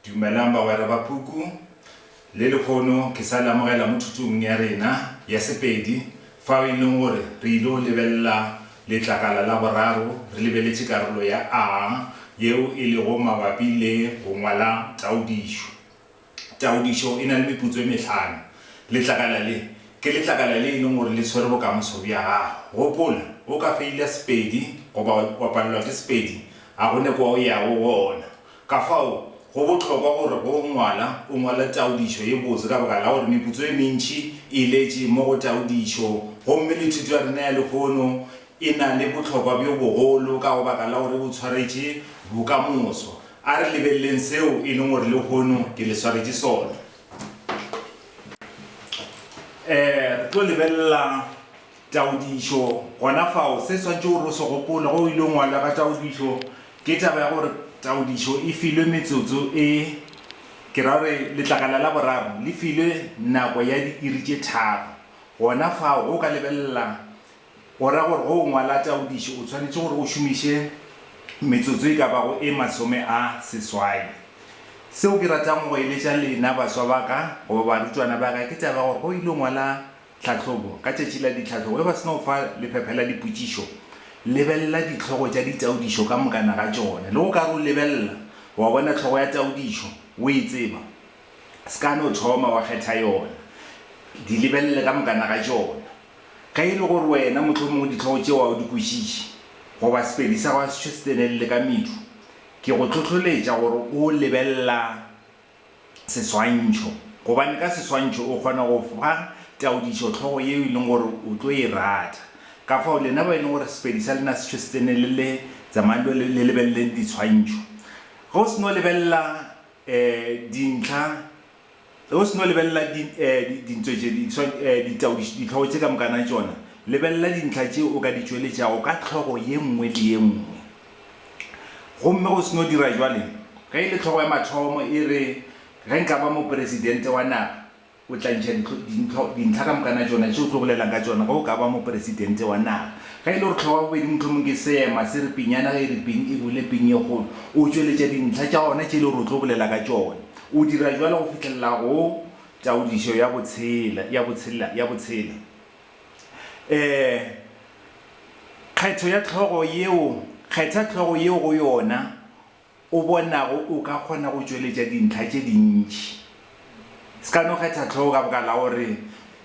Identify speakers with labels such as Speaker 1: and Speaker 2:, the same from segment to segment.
Speaker 1: Dumelang bagwera ba puku. Le lekhono ke sa le amogela mo thutong ya rena ya Sepedi fao e leng gore re ile go lebelela letlakala la boraro re lebeletše karolo ya A yeo e lego mabapi le go ngwala taodišo. Taodišo e na le meputso e mehlano. Letlakala le ke letlakala le e leng gore le swere bokamoso bja gago. Gopola, o ka feila Sepedi goba wa palelwa ke Sepedi, ga go ne kwa o yago gona. Ka fao, go bohlokwa gore ge o ngwala, o ngwale taodišo ye botse ka baka la gore meputso ye mentši e iletše mo go taodišo. Gomme le thuto ya rena ya lehono e na le bohlokwa bjo bogolo ka go baka la gore e botshwaretše bokamoso. A re lebeleleng seo e leng gore lehono ke le swaretše sona. Re tlo lebelela. Taodišo, Gona fao, se swanetše gore o se gopole ge o ile ngwala ka taodišo ke taba ya gore taodišo e filwe metsotso e, ke ra gore letlakala la boraro le filwe nako ya diiri tše tharo. Gona fao, ge o ka lebelela, go ra gore ge o ngwala taodišo o swanetše gore o šomiše metsotso e ka bago e masome a seswai. Seo ke ratago go eletša lena baswa ba ka goba barutwana ba ka ke taba ya gore ge o ile ngwala Tlhahlobo, Ka tšatši la ditlhahlobo, ge ba se na go fa lephephe la dipotšišo, lebelela dihlogo tša ditaodišo ka mokana ga tšona. Le go ka re o lebelela, wa bona hlogo ya taodišo, o e tseba, se ka no thoma wa kgetha yona. Di lebelele ka mokana ga tšona. Ge e le gore wena mohlomongwe dihlogo tšeo ga o di kwešiše, goba Sepedi sa gago a se tšo se tsenelele ka medu, ke go hlohloletša gore o lebelela seswantšho, gobane ka seswantšho o kgona go fa taodišohlogo yeo e leng gore o tlo e rata. Kafao, lena bao e leng gore Sepedi sa lena se tšhwesitsene le le tsamayang lo le lebeleleng diswantšho. Ge o se no lebelela um dintlha, ge o se no lebelela di um dintho tše, ditaodišohlogo tše ka mokana tšona, lebelela dintlha tše o ka di tšweletšago ka hlogo ye nngwe le ye nngwe. Gomme go se no dira jwale, ge e le hlogo ya mathomo e re, Ge nka ba moperesidente wa naga, o tla ntšha dintlo, dintlo, dintlha ka mokana tšona tše o tlo bolelang ka tšona ge o ka ba moperesidente wa naga. Ge e le gore hlogo ya bobedi mohlomong ke seema se re pinyana ge e re ping e bule ping ye kgolo, o tšweletša dintlha tša ona tše e le gore o tlo bolela ka tšona. O dira jwalo go fihlelela go taodišo ya botshela, ya botshela, ya botshela. Ee, kgetho ya hlogo yeo, kgetha hlogo yeo go yona o bonago o ka kgona go tšweletša dintlha tše dintši. Se ka no kgetha hlogo ka baka la gore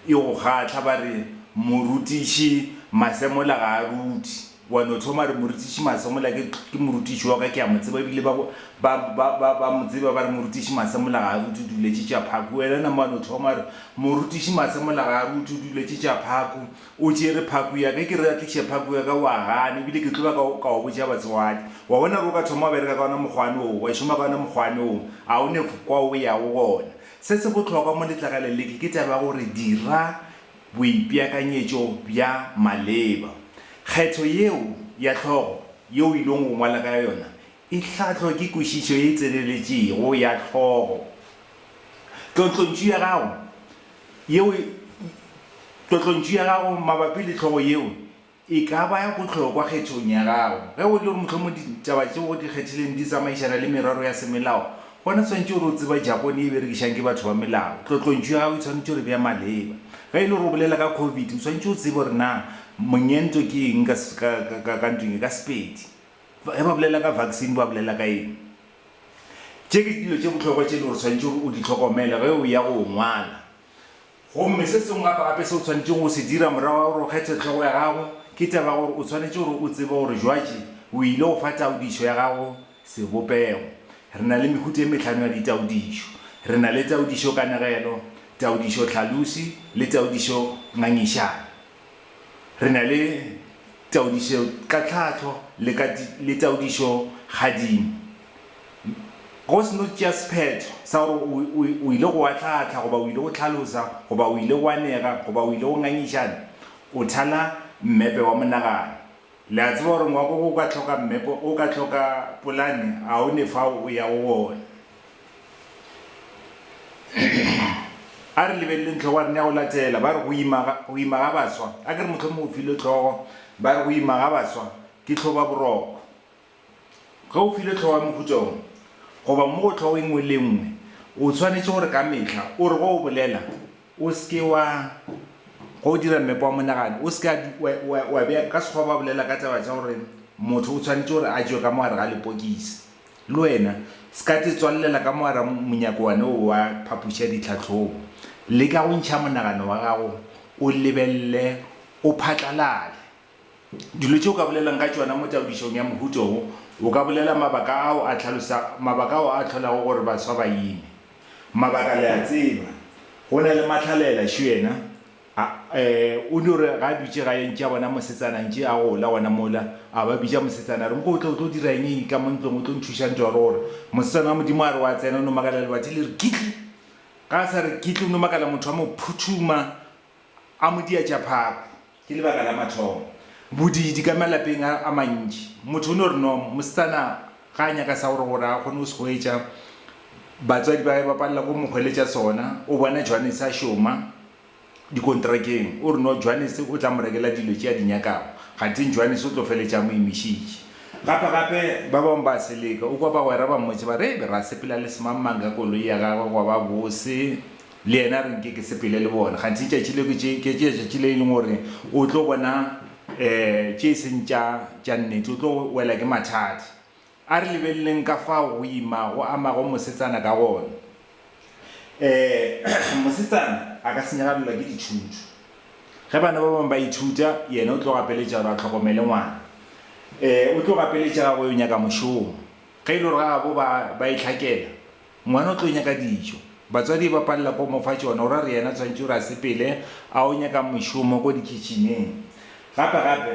Speaker 1: e go kgahla, ba re morutiši masemola ga a ruti. Wa no thoma a re, Morutiši Masemola, ke, ke morutiši wa ka, ke a mo tseba, ebile ba, ba, ba, ba, ba mo tseba, ba re, Morutiši Masemola ga a rute, o duletše tša phaku. Wena nama wa no thoma a re, Morutiši Masemola ga a rute, o duletše tša phaku, o tšere phaku ya ka. Ke re a tliše phaku ya ka, wa gana, ebile ke tlo ba ka, ka o botša batswadi. Wa bona gore o ka thoma wa bereka ka wona mokgwane woo, wa šoma ka wona mokgwane woo, a o ne kwa o yago gona. Se se bohlokwa mo letlakaleng le, ke, ke taba ya gore dira. Boipeakanyetšo bja maleba. Kgetho yeo ya hlogo yeo o ilego go ngwala ka yona e hlahlwa ke kwešišo ye tseleletšego ya hlogo. Tlotlontšu ya gago yeo Tlotlontšu ya gago mabapi le hlogo yeo E ka ba ya bohlokwa kgethong ya gago. Ge e le gore mohlomongwe ditaba tšeo o di kgethileng di tsamaišana le merero ya semelao, gona swanetše gore o tseba Japone e berekišang ke batho ba melao. Tlotlontšu ya gago e swanetše gore e be ya maleba. Ge e le gore o bolela ka Covid, o swanetše o tsebe gore na monyento ke eng ka ka ntweng e, ka Sepedi. Ge ba bolela ka vaccine ba bolela ka eng. Tše ke dilo tše bohlokwa tše e le gore o swanetše gore o di hlokomele ge o ya go ngwala Gomme se sengwe gape-gape seo o swanetšego go se dira morago ga gore o kgethe hlogo ya gago, ke taba ya gore o swanetše gore o tsebe gore jwatše o ile go fa taodišo ya gago sebopego. Re na le mehuta e mehlano ya ditaodišo. Re na le taodišo-kanegelo, taodišo-tlhalosi, le taodišo-ngangišano. Re na le taodišo ka tlhahlo le ka le taodišo gadimo. Go se no tšea sephetho sa gore o, o, o ile go wa tlhahla goba o ile go tlhalosa goba o ile go anega goba o ile go ngangišana, o thala mmepe wa monagano. Le a tseba gore ngwako wo o ka hloka mmepe, o ka hloka polane, a o ne fao o ya go wona. A re lebeleleng tlhogo ya rena ya go latela. Ba re go ima ga, go ima ga baswa, a ke re mohlomongwe o filwe tlhogo, ba re go ima ga baswa ke tlhoba boroko. Ge o filwe tlhogo ya mohuta wo, goba mo go tlhogo e nngwe le e nngwe, o swanetše gore ka mehla o re ge o bolela, o se ke wa, ge o dira mmepe wa monagano, o se ke wa, wa, wa bea, ka Sekgowa ba bolela ka taba tša gore motho o swanetše gore a tšwe ka mo gare ga lepokisi. Le wena, se ka te tswallela ka mogara monyako wane wo wa phapoši ya ditlhahlobo. Leka go ntšha monagano wa gago o lebelele o phatlalale. Dilo tše o ka bolelang ka tšona mo taodišong ya mohuta wo, o ka bolela mabaka ao a hlalosa mabaka ao a hlolago gore baswa ba ime. Mabaka le a tseba. Go na le mahlalela, šo yena. A, e, o no re ga a dutše gae ntše a bona mosetsana ntše a gola gona mola, a ba bitša mosetsana a re, Nko o tle o tlo dira eng eng ka mo ntlong o tlo nthuša ntwa gore gore. Mosetsana wa Modimo a re wa tsena o no makala lebati le re kitli. Ga a sa re kitli o no makala motho a mo phuthuma a mo diatša phako. Ke lebaka la mathomo. Bodiidi ka malapeng a, a mantši. Motho o no re nom, mosetsana ga a nyaka sa gore gore a kgone go se hwetša, batswadi ba gage ba palela go mo hweletša sona, o bona Johannes a šoma, dikontrakeng, o re no Johannes o tla mo rekela dilo tše a di nyakago, kgatheng Johannes o tlo feletša a mo imišitše. Gape gape ba bangwe ba seleka, o kwa bagwera ba mmotša ba re, Re ra sepela le semangmang ka koloi ya gagwe gwa ba bose, le yena a re nke ke sepele le bona, kgatheng tšatši leo ke tše, ke tšatši le e leng gore o tlo bona um tše e seng tša, tša nnete, o tlo wela ke mathata. A re lebeleleng ka fao go ima go amago mosetsana ka gona. Ee, mosetsana a ka senyagalelwa ke ditšhuntšhu. Ge bana ba bangwe ba ithuta, yena o tlo gapeletša gore a hlokomele ngwana. Ee, o tlo gapeletša ge a go yo nyaka mošomo. Ge e le gore gabo ba, ba itlhakela, ngwana o tlo nyaka dijo. Batswadi e ba palela ke go mo fa tšona, o ra gore yena o swanetše gore a sepele a yo nyaka mošomo ko dikitšhineng. Gape-gape,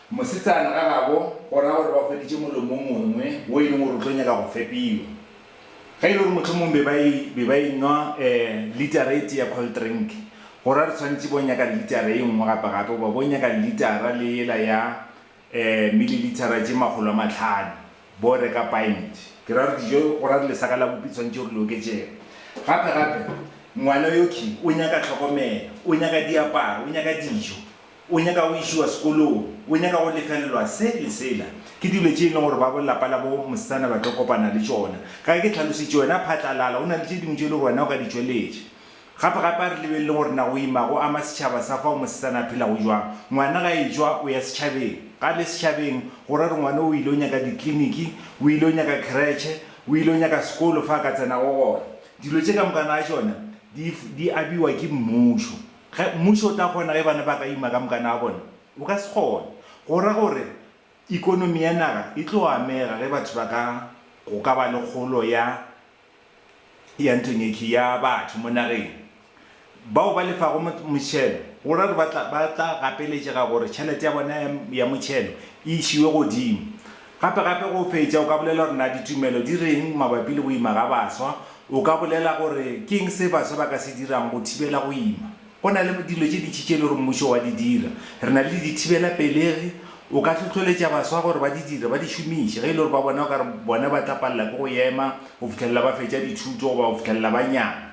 Speaker 1: Mosetsana ka gabo go ra gore ba hweditše molomo o mongwe wo e leng gore o tlo nyaka go fepiwa. Ge e le gore mohlomong be ba e, be ba e nwa eh, litara e tee ya cold drink, go ra re tshwanetše bo nyaka litara e nngwe gape-gape goba bo nyaka litara le yela ya eh, mililithara tše makgolo a mahlano, bo reka pint. Ke ra gore dijo, go ra re lesaka la bupi tshwanetše gore le oketšege. Gape-gape, ngwana yo Ki o nyaka tlhokomelo, o nyaka diaparo, o nyaka dijo, O nyaka go išiwa sekolong, o nyaka go lefelelwa se le sela. Ke dilo tše e lego gore ba bo lapa la bo mosetsana ba tlo kopana le tšona. Ka ge ke tlhalositše, wena phatlalala, go na le tše dingwe tše e lego gore wena o ka di tšweletša. Gape-gape a re lebeleleng gore na go ima go ama setšhaba sa fao mosetsana a phelago bjang. Ngwana ge a etšwa, o ya setšhabeng. Ga a le setšhabeng, go ra gore ngwana o ile go nyaka dikliniki, o ile go nyaka kheretšhe, o ile go nyaka sekolo fa a ka tsenago gona. Dilo tše ka moka na tšona di, di abiwa ke mmušo. Ge mmušo o tla kgona ge bana ba ka ima ka mokana wa bona, o ka se kgone. Go ra gore ikonomi ya naga e tlo amega ge batho ba ka go ka ba le kgolo ya ya ntonyekhwi ya batho mo nageng. Bao ba lefago mošhelo go ra gore ba tla ba tla gapeletšega gore tšhelete ya bona ya ya mošhelo e išiwe godimo. Gape-gape go fetša o ka bolela gore na ditumelo di reng mabapi le go ima ga baswa. O ka bolela gore ke eng se baswa ba ka se dirang go thibela go ima. Go na le dilo tše dintši tše e le gore mmušo wa di dira. Re na le dithibelapelegi. O ka hlohloletša baswa gore ba di dire, ba di šomiše, ge e le gore ba bona o ka re bona ba tla palela ke go ema go fihlelela ba fetša dithuto goba go fihlelela ba nyala.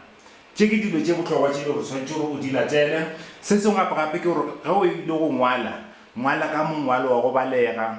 Speaker 1: Tše ke dilo tše bohlokwa tše e le gore o swanetše gore o di latele. Se sengwe gape-gape ke gore ge o ile go ngwala, ngwala ka mongwalo wa go balega.